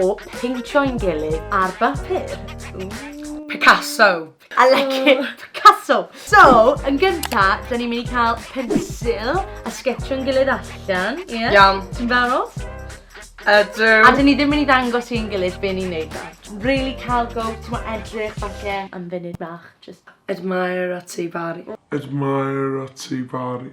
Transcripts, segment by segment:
O peintio i'n gilydd ar bapur. Ooh. Picasso. I like it. Oh. Picasso. So, yn gynta, da ni'n mynd i cael pensil a sgetio'n gilydd allan. Ie? Yeah? Iawn. Ti'n barod? Ydw. A dyn ni ddim mynd i ddangos i'n gilydd be ni'n neud da. Really cael go, ti'n mo edrych falle am funud bach. Just admire a ti bari. Admire a ti bari.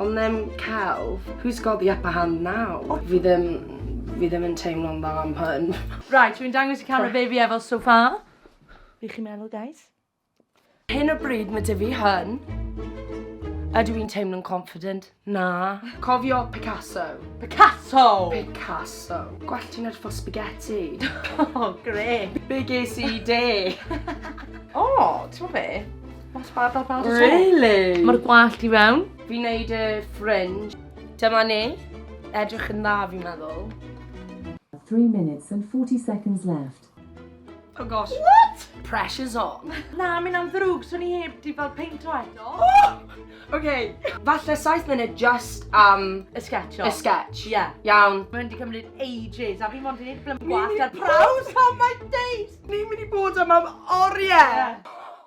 Ond ddim celf. Who's got the upper hand now? Oh. Fi ddim... Fi ddim yn teimlo'n dda am hyn. Right, dwi'n dangos i camera be fi efo so far. Be chi'n meddwl, guys? Hyn o bryd mae dy fi hyn. Ydw i'n teimlo'n confident? Na. Cofio Picasso. Picasso! Picasso. Gwell ti'n edrych fel spaghetti. oh, gre. Be ges i de? o, oh, ti'n be? Not bad, not bad at all. Really? Mae'r gwallt i fewn. Fi'n neud y fringe. Dyma ni. Edrych yn dda fi'n meddwl. 3 minutes and 40 seconds left. Oh gosh. What? Pressure's on. Na, mi'n am ddrwg, swn i heb di fel peintio eto. OK. Falle 7 munud just am... Y sketch o. Y sketch. Ie. Yeah. Iawn. Mae'n di cymryd ages, a fi mond i'n ffilm gwallt ar praws. Oh my days! Ni'n mynd i bod am am oriau. Yeah.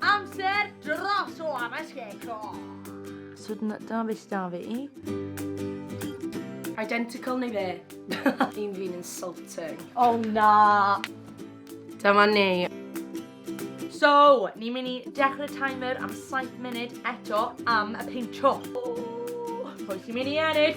Amser dros o am y sgecro! So dyna beth sydd 'da fi. Identical neu be? Fi'n fi'n insulting. O na! Dyma ni. So, ni'n mynd i dechrau timer am 7 munud eto am y peintio. Pwy sy'n mynd i ennill?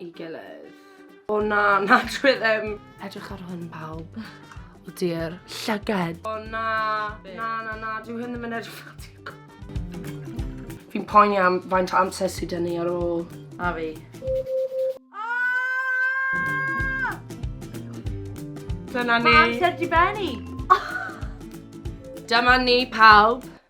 ei gilydd. O na, na dwi ddim. Edrych ar hwn pawb. O di'r llyged. O na, na, na, na, dwi hyn ddim yn edrych ar ti. Fi'n poeni am faint o amser sydd dyn ni ar ôl. A fi. Dyna ni. Mae amser di benni. Dyma ni pawb.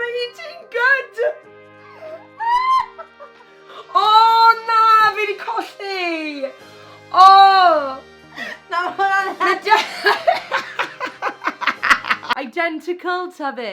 Mae hi ti'n good! O na, fi wedi colli! O! Na, hwnna'n... Identical ta fe?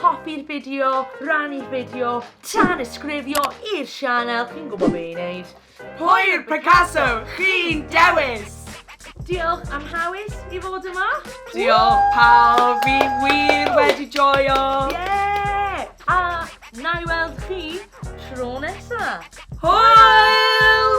Hoffi'r fideo, rannu'r fideo, tanysgrifio i'r sianel, chi'n gwybod be i wneud. Pwy yw'r Picasso chi'n dewis? Diolch am hawys i fod yma. Diolch pawb, fi wir wedi joio. Yeah! A na i weld chi tro nesa. Hwyl!